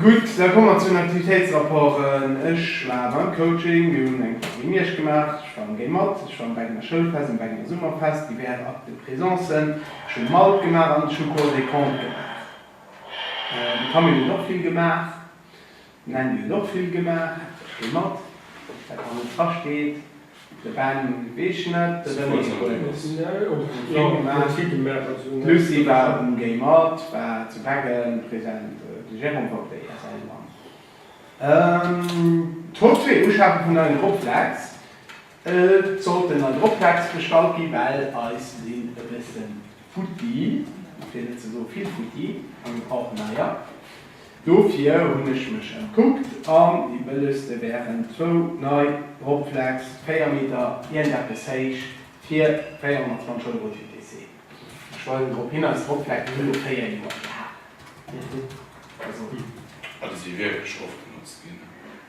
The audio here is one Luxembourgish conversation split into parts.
Gutt, da komme mer zu den Aktivitéitsrapporten. Ech war beim Coaching, mir hunn eng Partie Miersch gemaach, ech schwamme géi mat, ech schwamme bei enger Schoulfest an bei enger Summerfest, divers Actes de présence, ech hu Malt gemaach an ech hu Cours des Comptes gemaach. De Camille huet och vill gemaach. D'Nanny huet och vill gemaach, Ech gi mat, dat an den Trasch geet, de Ben gezeechent, de René Fotos gemaach, d'Lucie war um Gay mat, war zu Beggen present, de Jérôme war op der ISL mat, d'Hof zwee, Uschafe vun neien Rockflex. Et sollt en an Optext gestallt ginn, well eis sinn e bësse futti, fir net ze soe vill futti am gebrauchten Neier. Dofir hunn ech mech ëmkuckt an déi bëllegste wären zwou nei Optext, 4 Meter, iergendeppes héich, fir 420 Euro TTC. Ech weisen drop hin, eis Optext hunn elo 4 Joer gehalen. A si si wierklech oft genotzt ginn.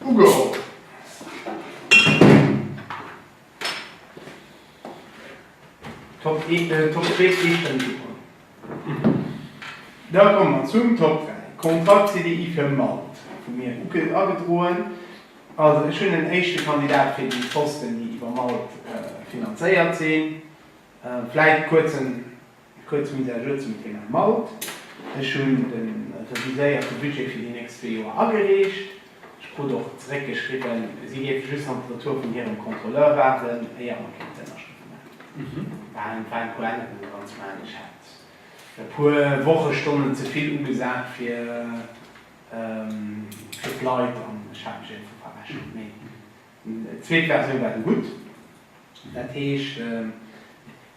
Ugeholl. Top 1, Top 2 zwee Stënn ugeholl. Da komme mer zum Top 3. Kontrakt CDI fir Malt vu mir ugedroen. Also ech hunn en éischte Kandidat fir déi Posten, déi iwwer Malt finanzéiert sinn. Vläit kuerzen. Kuerz Mise à jour zum Thema Maut. Ech hunn de reviséierte Budget fir déi nächst zwee Joer agereecht. Ech krut och zeréckgeschriwwen, si géife just nach de Retour vun hirem Contrôleur waarden, éier mer kéinten d'Ënnerschrëfte maachen. War en paar Ännerungen dran ze maachen. Ech hat e puer Wochestonnen ze vill ugesat fir d'Leit an ech hat mech iergendwou verrechent. Mee déi zweet Versioun war du gutt. Dat heescht.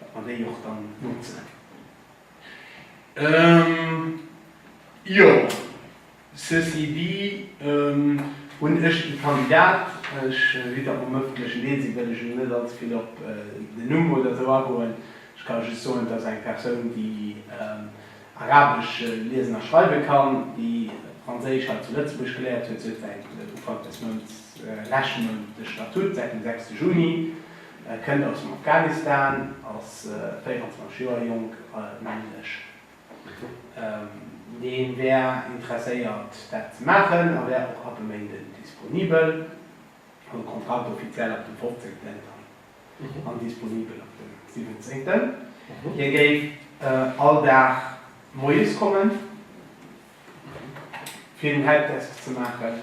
Datt mer déi och dann notzen. Jo, ceci dit, hunn ech de Kandidat, ech si dat mam ëffentlechen Deel sinn, wëll ech elo net allze vill op den Numm oder esou agoen. Ech ka just soen, et ass eng Persoun, déi Arabesch liesen a schreiwe kann, déi Franséisch hei zu Lëtzebuerg geléiert huet. Si fänkt Ufank des Mounts, leschte Mount, de Statut, säit dem sechste Juni. E kënnt aus dem Afghanistan, ass 24 Joer jonk, männlech. Dee wär interesséiert dat ze maachen a wär och ab e Méinden disponibel. Huet Kontrakt offiziell ab dem 15 an disponibel ab dem 17. Hien géif all Dag moies kommen fir den Helpdesk ze maachen.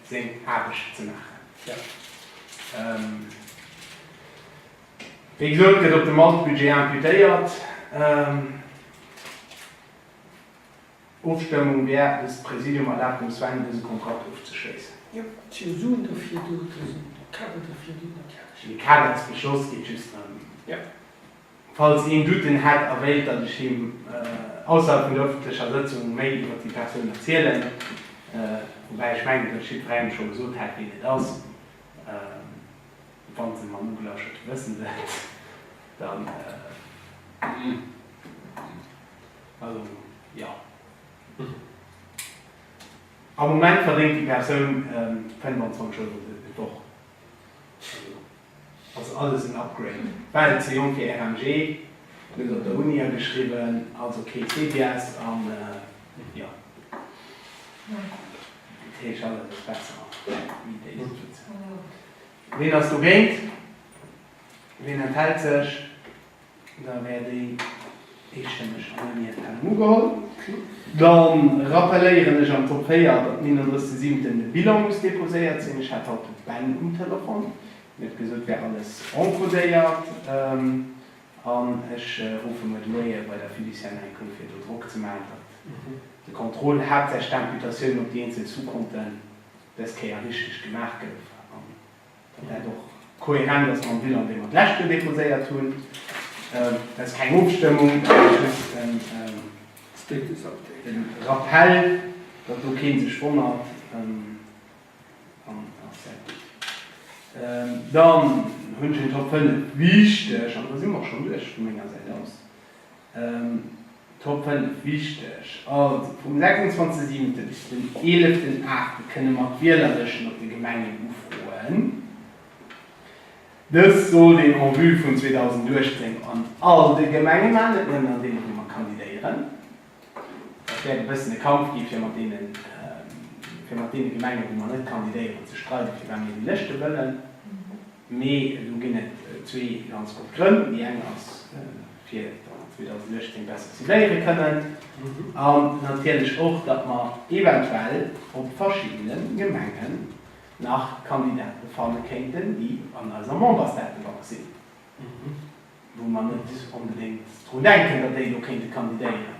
seng Aarbecht ze maachen. Wéi gesot, gëtt op dem Malt Budget imputéiert. Ofstëmmung wär eppes, Präsidium erlaabt dem Sven dëse Kontrakt ofzeschléissen. Jo, d'Optioun Suen derfir do, also de Kader derfir do, natierlech. De Kader ze beschloss geet just ëm. Falls een Douten hätt a wéilt, datt ech him ausserhalb vun der ëffentlecher Sëtzung méi iwwer déi Persoun erzielen, woubäi ech mengen, datt ech jiddwerengem scho gesot hätt, wien et ass, wa se mam Ugelauschterte wëssen wëllt, dann, also, jo. Am Moment verdéngt déi Persoun 25 Euro d'Woch. Also alles en Upgrade. Well ze jonk fir RMG, net op der Uni ageschriwwen, also kee CBS an jo. Dat heescht alles ass besser wéi déi Situation. Ween ass dogéint? Ween enthält sech? Da wär déi eestëmmeg annuléiert kennen ugeholl. Dann rappelléieren ech am Top 4, datt um 31 Siebenten de Bilan muss deposéiert sinn. Ech hat haut de Ben um Telefon. Hien huet gesot, et wär alles encodéiert. An ech ruffe muer de Moie bei der Fiduciaire enk un, fir do Drock ze maachen, datt de Contrôle, haaptsächlech d'Imputatioun op déi eenzel Sous-compten, des Kéier richteg gemaach gouf. fir dat och kohärent ass mam Bilan, dee mer d'leschte déposéiert hunn. Dat ass keng Ofstëmmung, dat ass just en Rappell, datt do kee sech wonnert. Dann hunn ech en Top 5 wichteg, an da si mer och schonn duerch vu menger Säit aus. Top 5 wichteg, Also vum 26 siwente bis den 11 en Aachte kënne mer d'Wielerlëschten op de Gemengen ufroen. Dëst sollt een en vue vun 2018 an all de Gemenge maachen, net nëmmen an deenen, wou mer kandidéieren. Dat wäert e bëssen e Kampf gi fir mat deene Gemengen, wou mer net kandidéieren, ze streiden, firwat mir déi Lëschte wëllen. Mee do ginn et zwee ganz gutt Grënn. Déi eng ass, fir datt mer 2018 besser cibléiere kënnen an natierlech och, datt mer eventuell op verschiddene Gemenge nach Kandidate fanne kéinten, déi an eiser Membersdatebank sinn, wou mer net onbedéngt drun denken, datt déi do kéinte kandidéieren.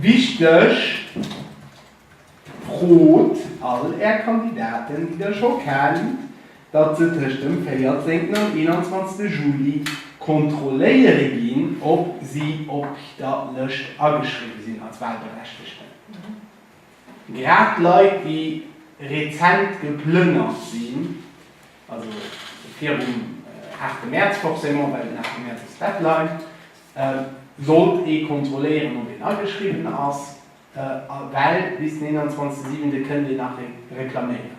Wichteg, Frot all Är Kandidaten, déi Der scho kennt, datt se tëscht dem 14 an 21 Juli kontrolléiere ginn, ob si op der Lëscht ageschriwwe sinn als Wahlberechtegten. Grad Leit, déi rezent geplënnert sinn, Also virum harte Mäerz forcément, well den harte Mäerz ass d'Deadline, sollt ee kontrolléieren, ob een ageschriwwen ass, well bis den 21 Siwente kënnt een nach reklaméieren.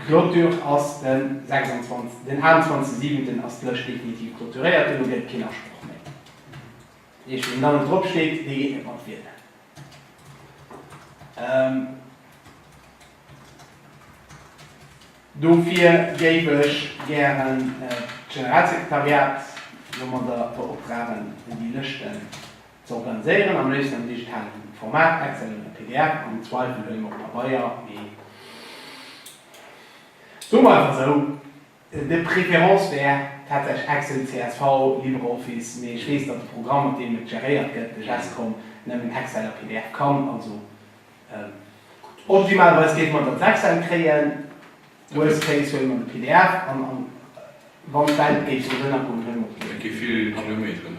D'Clôture ass de 26, den 28 Siwenten ass d'Lëscht definitiv clôturéiert, duerno gëtt et keen Asproch méi. Dat heescht, wien da net drop steet, dee geet net mat wielen. Dofir géif ech gären d'Generalsekretariat elo mat der beoptragen, déi Lëschten ze organiséieren, am léifsten am digitalen Format, Excel oder pdf, am Zweifel elo eben op Pabeier, mee soe mer einfach esou. De préférence wär tatsächlech Excel, csv, LibreOffice, mee ech weess, datt de Programm, mat deem et geréiert gëtt, de Gescom, nëmmen Excel a pdf kann. Also optimalweis géife mer et als Excel kréien, worst case huele mer de pdf an a wann d'Welt géif esou ënnergoen, huele mer. Et gi vill Kilometeren.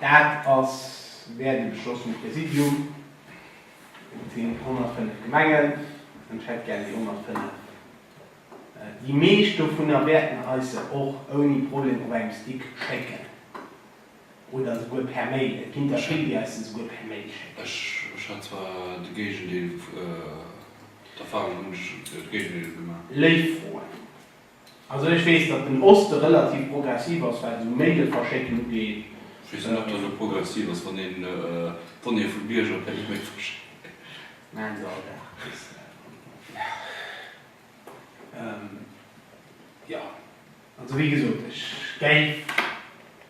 Dat ass wär de Beschloss vum Präsidium. Et sinn 105 Gemengen an ech hätt gär déi 105. Déi meescht dovunner wäerten eis se och ouni Problem op engem Stick schécken oder souguer per Mail. Et ginn der vill, déi eis se souguer per Mail schécken. Ech hat zwar de Géigendeel, d'Erfahrung hunn ech de Géigendeel gemaach. Léif Froen. Also ech weess datt den Oste relativ progressiv ass wat esou Maile verschécken ugeet. Ech weess net ob dat elo progressiv ass wann een d'Donnéeë vum Bierger per Email verschéckt.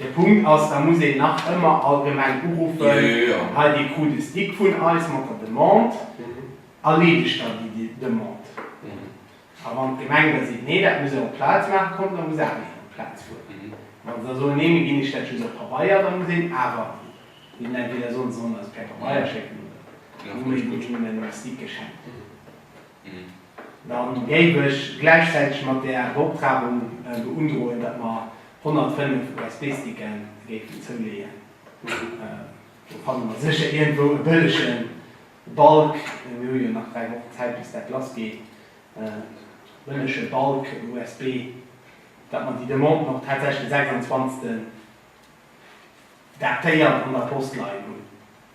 De Punkt ass, da muss een nach ëmmer allgemeng uruffen, hei dee Coup de stick vun eis mat der Demande, erleedegt dann déi Demande. A wann d'Gemeng da seet, nee, dat muss ee op d'Plaz maachen, kommt, da muss awer een op d'Plaz fueren. Wann se da soen, nee, mir ginn iech dat just op Pabeier, da muss een awer hinnen entweder soen, se sollen eis per Pabeier schécken oder hu mir hinnen e Stick geschenkt. Dann géif ech gläichzäiteg mat där Beoptragung beundroen, datt mer 105 USB-Sticken géifen zouleeën. Do fanne mer sécher iergendwou e bëllege Balk, mir hu jo nach dräi Wochen Zäit bis dat lass geet, e bëllege Balk USB, datt mer déi Demanden och tatsächlech de 26 datéiert an der Post leien hunn.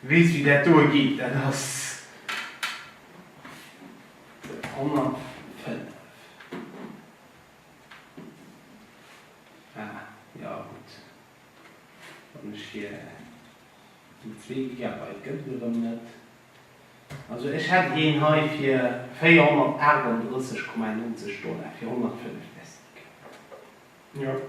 Wees wéi dat doe geet? Dat ass 105. Ah jo gutt, wann ech hir déi zwee Gigabyte gëtt et erëm net. Also ech hätt een hei fir 438,91 Dollar fir 105 Desktgigabyte.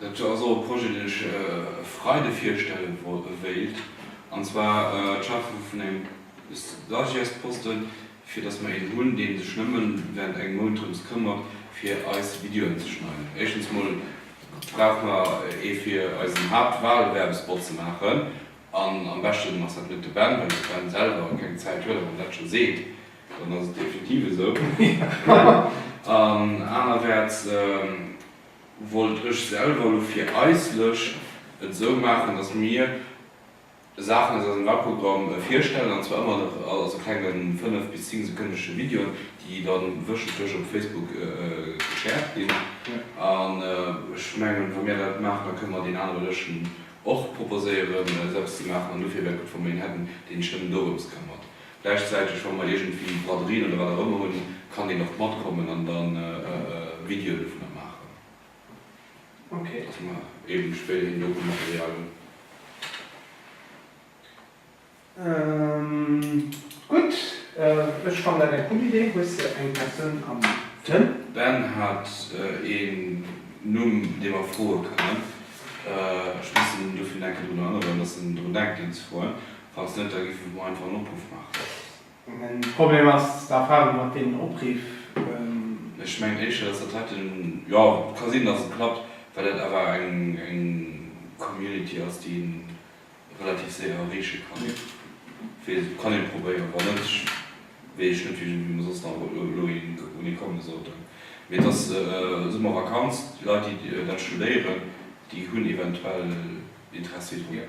Dat ass och e Projet, deen ech e Freide virstelle wéilt, an zwar d'Schafe vun engem Stagiairsposte, fir dass mer een hunn, dee sech nëmme während engem Mount drëms këmmert, fir eis Videoen ze schneiden. Éischtens emol brauche mer ee fir eisen Haaptwahlwerbespot ze maachen, an am beschten ass dat net de Ben, well de Ben selwer keng Zäit huet. A wann en dat scho seet, dann ass et definitiv esou. An anerwäerts. wollt ech selwer elo fir eis Lëscht et esou maachen, datt mir Saachen aus eisem Wahlprogramm virstellen, an zwar ëmmer nach als e klenge 5 bis 10 sekënnesche Video, déi da wéchentlech op Facebook geschäert ginn. An ech mengen, wa mir dat maachen, da kënne mer deen anere Lëschten och proposéieren, eppes ze maachen. An dofir wär et gutt, wa mer een hätten, deen sech nëmmen dorëms këmmert. Gläichzäiteg, wa mer iergendwéi Braderien oder wat och ëmmer hunn, kann deen och matkommen an da Videoen dovunner maachen, dass mer eeben spéiderhin Doku-Material hunn. Gutt, ech fannen dat eng cool Idee. Hues de eng Persoun am Sënn? Ben hat een Numm, dee mer froe kënnen. Ech mussen dofir nach eng Kéier drun erënneren, dass en drun denkt, een ze froen. Falls net, da giff ech mol einfach en Opruff maachen. Mäin Problem ass d'Erfahrung mat deenen Opriff. Ech mengen éischter, dass dat heiten, jo, ka sinn, dass et klappt, well dat awer eng Community ass, déi een relativ séier erreeche kann. Wee et kann ee probéieren, wann net, wéi ech net, wéi mer soss nach elo een un ee komme sollten. Mee et ass Summervakanz, déi Leit, déi dat studéieren, déi hunn eventuell Interessi drun.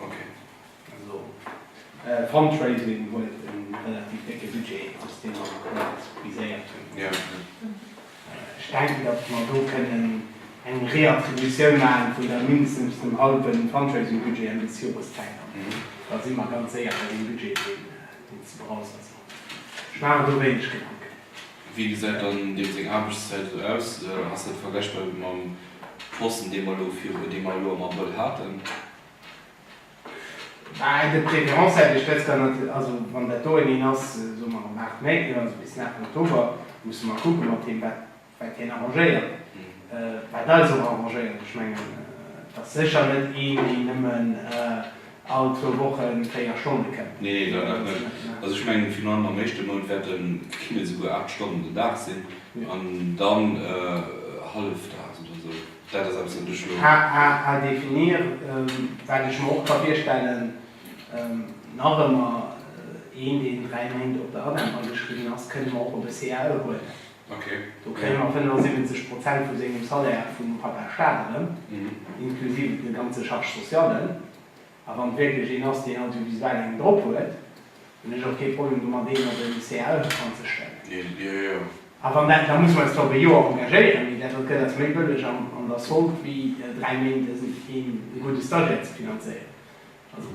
Ok. Also Fundraising huet e relativ décke Budget, dëst deen mer haut viséiert hunn. Jo, jo. Ech denken, datt mer do kënnen eng Reattributioun maachen vun der mindestens dem hallwe Fundraising-Budget Enn des Joreszäit an da si mer ganz séier bei deem Budget, deen ze berausseren ass. Ech maachen do wéineg Gedanken. Wéi gesäit dann deem seng Aarbechtszäit esou aus? Ass dat vergläichbar mam Posten, dee mer elo viru, dee mer elo am Abrëll haten? De préférence hätt ech dës Kéier nat, also wann dat do en een ass, soe mer am 8 Mäiten oder esou, bis nach Oktober, musse mer kucke mat him, wat, wat hien arrangéiert, wat eis och arrangéiert. Ech mengen, et ass sécher net een, deen nëmmen. All zwou Woche véier Stonne kënnen. Nee, dat nach net. Also ech mengen virun allem am éischte Mount wäerte kënnen et souguer 8 Stonnen den Dag sinn an dann hallefdags oder esou. Dat ass eppes, wat ech elo. Hahaha definir, wat ech mer och ka virstellen. Nach ëmmer, een, deen dräi Méint op der ADEM ageschriwwen ass, kënne mer och op e CAE huelen. Do kréie mer 75 Prozent vu sengem Salaire vum Papa Staat erëm, inklusive de ganze Charges sociallen. A wann et wierklech een ass, deen audiovisuell eng drop huet, hunn ech och kee Problem domat, deen op en CAE anzestellen. A wann dat, da muss mer eis zwar op e Joer engagéieren, mee dat, wat gëtt, ass méi bëlleg an der Solde wéi dräi Méint e gudde Stagiaire ze finanzéieren. Also.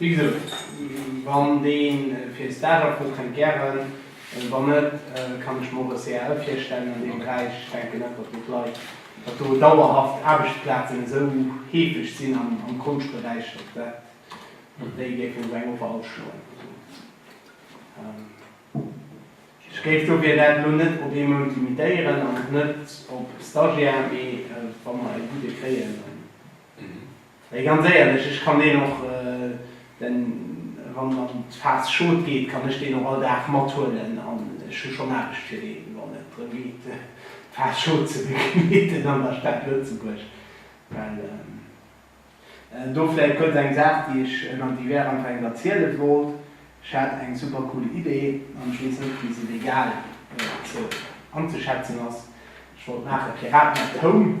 Wéi gesot, wann dee fir Stage afrot, kënnt gären. Wann net, kann ech mer och e CAL virstellen an deem Beräich. Ech denken net, datt do d'Leit, datt do dauerhaft Aarbechtsplazen esou heefeg sinn am Konschtberäich, datt dat, datt déi géifen esou eng Offer ausschloen. Also ech géif dofir dat elo net op ee Mount limitéieren an och net op Stagiaire, mee wa mer e gudde kréien, dann. Mee ganz éierlech, ech kann deen och, den, wann en an d'Phas Schod geet, kann ech deen och all Dag mathuelen an ech hu schonn Aarbecht fir deen, wann et drëm geet d'Phas Schod ze begleeden an der Stad Lëtzebuerg. Well, do vläit kuerz eng Saach, déi ech ënner divers einfach engem erziele wollt, Ech hat eng super cool Idee an ech weess net, wéi se legal ze anzeschätzen ass. Ech wollt maachen Piraten at Home.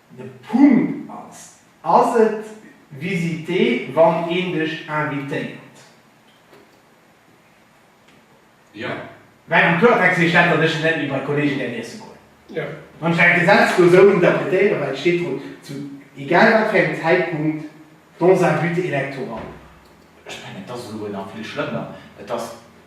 De Punkt ass, Ass et visité wann een dech invitéiert? Jo. Well am Kloertext heescht dat, datt ech net méi bei Kollegen däerf iesse goen. Jo. Wann ech dat Gesetz do esou interpretéieren, well et steet drun, zu egal wat fir engem Zäitpunkt dans un but électoral. Ech mengen, et ass elo nach vill schlëmmer. Et ass.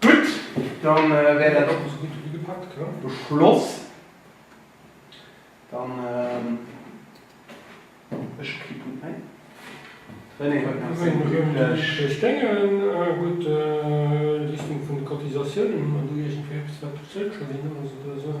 Gutt, dann wär dat och esou gutt ugepakt, beschloss. Dann ech hu kee Punkt méi. René huet nach seng üblech. Ech denke gutt, Richtung vun de Cotisatiounen hunn mer do iergendwéi eppes wat du zrëckschloen hues oder esou.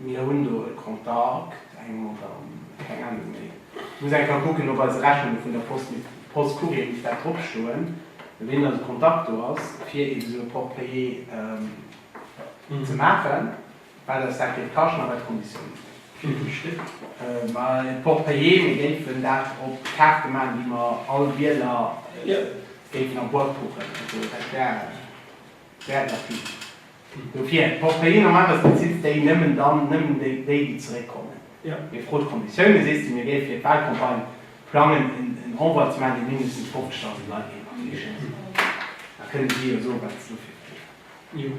Mir hunn do e Kontakt, eng oder keng Ahnung méi. Ech muss eng Kéier kucken op eise Rechnunge vun der Post, mee Post Courrier misst dat drop stoen, mat deenen dass e Kontakt do ass fir eeben esou e Porte-Payer ze maachen, wat eis dat géif kaschten a wat d'Konditiounen sinn. Wéivill Stéck? Ma e Porte-Payer, mir géifen dat op Kaarte maachen, déi mer all Wieler géifen a Boîte kuchen, also dat wär. Wäert nach vill. Dofir brauch kajeen am Aarbechtsbezit déi nëmmen dann nëmmen déi déi déi zeréckkommen. Mir fro d'Konditioune sees de. Mir géif fir d'Walcampagne plangen en Envoi ze maachen dee mindestens 50.000 Leit géif erreechen. Da kënne si jo soen wat se dofir kréien.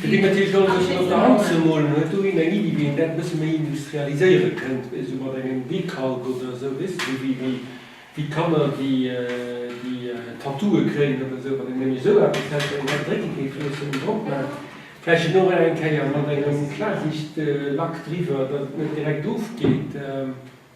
Fir deen natierlech alles e bëssen op der Hand ze molen, huet do een eng Iddi, wéi een dat e bësse méi industrialiséiere kënnt, esou mat engem Dekalk oder esou, wéi d'Kanner, déi Tattooe kréien oder esou, wann een nëmme esou eppes hätt, wat een hei drécke géif loossen, um drop maacht, vläicht et och nach eng Kéier mat engem Klarsichtlack driwwer, datt et net direkt ofgeet.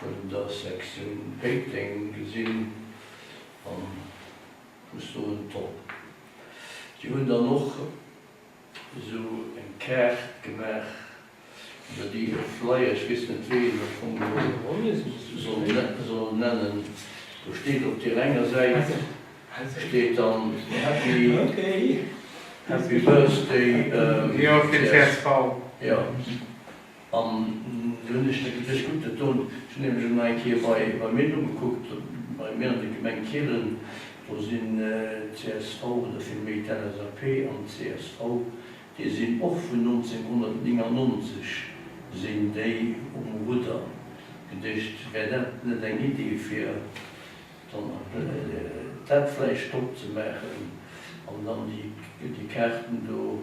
Vun der Sektioun Péiteng gesinn an vus do un d'Topp. Déi hunn dann och esou eng Kaart gemaach, iwwer déi e Flyer, ech weess net wéi een dat am Fong soll nennen, do steet op deer enger Säit steet dann Happy Birthday, jo, fir csv. An do hunn ech de Gefier gutt getun. Ech hunn nämlech elo eng Kéier bei mir nogekuckt, bei mir an der Gemeng Kielen, do sinn csv oder vill méi d'LSAP an csv, déi sinn och vun 1999 sinn déi um Rudder. Gedécht, wär dat net eng Iddi fir dann dat vläicht stop ze maachen an dann déi Kaarten do.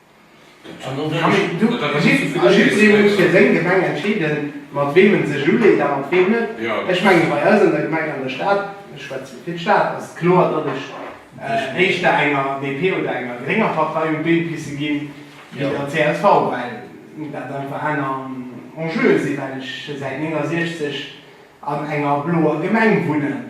Jidderee muss fir seng Gemeng entscheeden, mat weem e sech uleet a mat weem net. Ech mengen, bei eis an der Gemeng, an der Stad, ech schwätzen fir d'Stad, ass et kloer, datt ech éischter enger DP oder enger grénger Partei un d'Been pisse ginn, wéi der csv, well dat einfach aner Enjeue sinn, well ech säit 1969 an enger bloer Gemeng wunnen.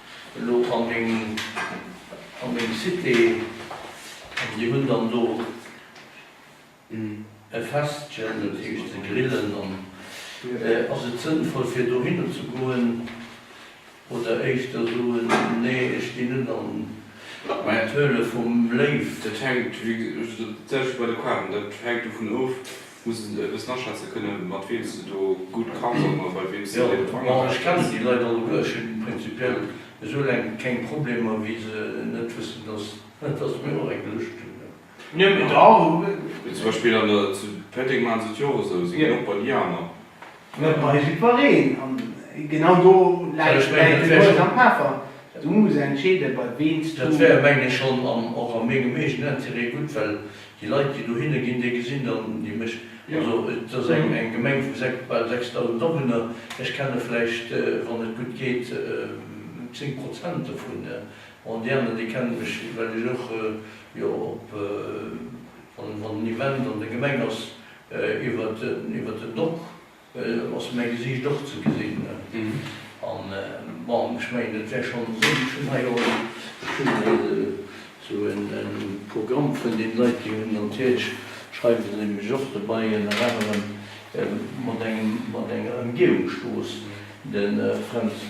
Elo an dem, an dem Cité, an déi hunn dann do e Festchen, dat heescht se grillen. An ass et sënnvoll fir dohinner ze goen oder éischter soen, nee ech ginn net an d'Höhle vum Léiw? Dat hänkt, wéi gesot, dat selwecht wéi bei de Qualen, dat hänkt dovun of, Muss en e bëssen aschätze kënne mat weem s de do gutt kanns an bei weem s de deen Drang erwëscht. Bon, ech kennen déi Leit alleguerch, hunn prinzipiell esoulaang keng Problemer wéi se net wëssen, dass dass mir och eng geluecht hunn. Zum Beispill zu Péteng maachen se et jo och esou, si ginn och bei déi aner. Mir bleiwe iwwereen, an genau do läit de Buet am Peffer, du muss entscheede bei ween s du. Dat wär, mengen ech, schonn och a mengem eegenen Interêt gutt, well déi Leit, déi dohinne ginn, déi gesinn dann, déi mécht, also et ass eng Gemeng vu bal 6.000 Awunner, ech kenne vläicht, wann et gutt geet, zéng Prozent dovun, bon, déi aner, déi kennen ech, well ech och, jo, op, wann en Event an der Gemeng ass, Iwwert den Dock ass mäi Gesiicht och ze gesinn. An bon, ech mengen et wär schonn esou, ech hunn hei och esou e Programm vun den Leit, déi hunn natierlech, schreiwe se mech och dobäi ënner anerem, mat enger Ëmgehungsstrooss, de Fränz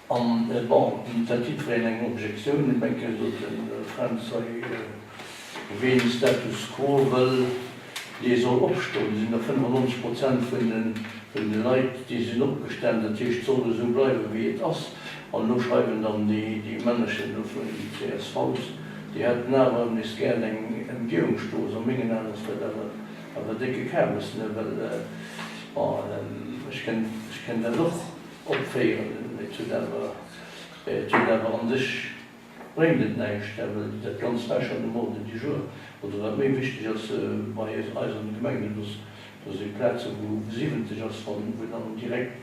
An bon, d'Initiativ Reen eng Objektioun umécken, sot de Fränz, hei, ween de Status quo wëll, dee soll opstoen. Sinn der 95 Prozent vun de Leit, déi sinn opgestan, dat heescht, soll esou bleiwen, wéi et ass. An elo schreiwen dann déi Männerchen do vun den CSVs, déi hätten awer nees gär eng Emgehungsstrooss. A mengen Aen ass dat awer e décke Kabes, ne? Well, bon, ech kenn dat och. Opféieren. Et huet awer, et huet awer an sech bréngt et näischt, well dat Ganzt war schonn um Ordre du jour. Oder wat méi wichteg ass bei eis an de Gemengen, do si Plaze wou 70 ass, wann, wou dann direkt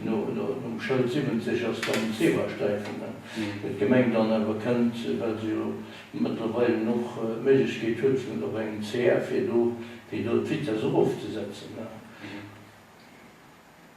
no, no, nom Schëld 70 ass dann Zebrasträifen. Well d'Gemeng dann awer kënnt, well se jo mëttlerweilen och d'Méiglechkeet huet vun op engem CR fir do, fir do d'Vitesse erofzesetzen.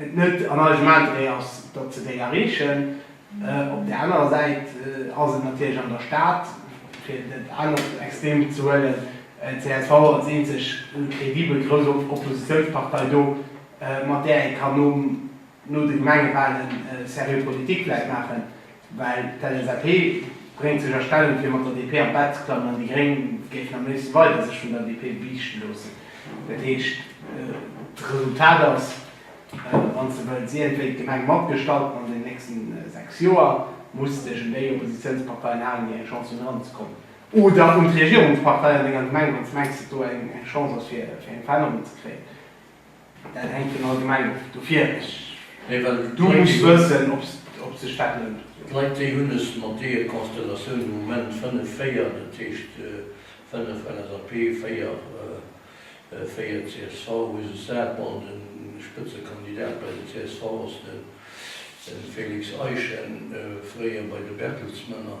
et net an eisem Interêt ass, datt se déi erreechen. Op där anerer Säit ass et natierlech an der Stad, fir dat anert Extrem ze huelen, csv als eenzeg kredibel grouss Oppositiounspartei do, mat där ee kann no de Gemengewalen seriö Politik vläicht maachen. Well d'LSAP bréngt sech a Stellung fir mat der DP an d'Bett ze klammen an déi Gréng géifen am léifsten weider sech vun der DP biichte loossen. Dat heescht, d'Resultat ass, wann s de wëlls, iergendwéi d'Gemeng matgestalten an den nächsten 6 Joer, muss dech un déi Oppositiounsparteien halen, déi eng Chance hunn eranzekommen, oder un d'Regierungspartei an denger Gemeng, wann s de mengs, datt do eng Chance ass fir eng Verännerung ze kréien. Dat hänkt vun all Gemeng of, dofir ech. Mee well du muss wëssen ob sech dat lount. D'Leit déi hunn es mat deeë Konstellatioun um Moment 5 4, dat heescht 5 LSAP, 4 4 csv hu sech sat. Bon de Spëtzekandidat bei de csv ass den Félix Eischen, fréier bei de Bertelsmänner.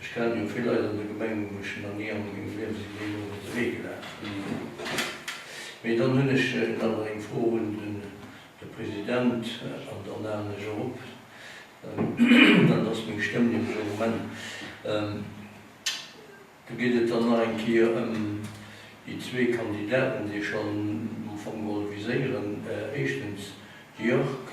Ech kennen jo vill Leit an der Gemeng, wou ech nach ni a mengem Liewen sinn deenen iwwert de Wee gelaf. Mee dann hunn ech nach mol eng Fro un de President an dann haalen ech och op. Dat ass meng Stëmm nämlech am Moment. Do geet et dann nach eng Kéier ëm déi zwee Kandidaten, déi ech schonn am Fong wollt viséieren. Éischtens de Jörg.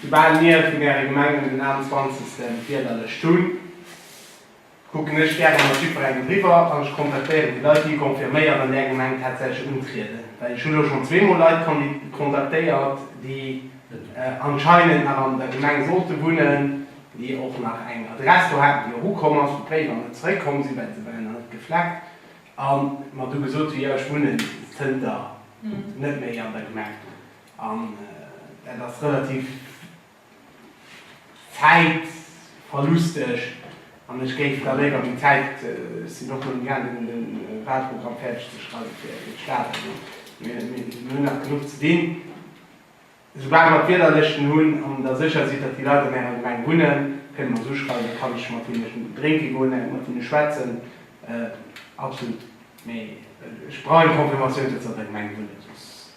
Soubal mir vun äre Gemengen den 21. Wiederlëscht hunn, kucken ech gäre mat jiddwerengem driwwer an ech kontaktéieren déi Leit, déi confirméiert an där Gemeng tatsächlech untrieden. Well ech hu lo schonn zweemol Leit kontaktéiert, déi anscheinend nach an der Gemeng sollte wunnen, déi och nach eng Adress do haten, déi och ukomm ass, wou d'Bréiwer net zeréckkomm sinn, well se waren nach net gefleckt, a mer du gesot hu, jo, ech wunnen zënter net méi an der Gemeng. An dat ass relativ zäitverlusteg. An ech géif da léiwer déi Zäit, ech sinn och mol imgaangen un de Wahlprogramm fäerdeg ze schreiwen fir de Staat, also mir hunn nach genuch ze dinn, esoubal mer d'Wielerlëschten hunn an der sécher sidd, datt déi Leit an Ärer Gemeng wunnen, kënne mer se uschreiwen, da kann ech mat hinne drénke goen, eng mat hinne schwätzen, absolut. Mee ech brauch eng Confirmatioun, datt se an der Gemeng wunnen, soss.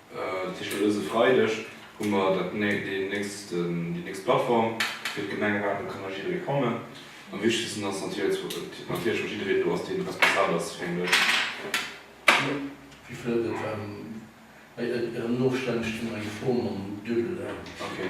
Tëscht haut dëse Freideg hu mer dat déi nächst déi nächst Plattform fir d'Gemengeraten. Do kann nach jidderee kommen. Am wichtegsten ass natierlech natierlech och jiddereen do ass dee responsabel ass fir eng Lëscht. Wie fëllt et an? Bei Ieren Ofstänn steet nach eng Fro mam Duebel N. Okay.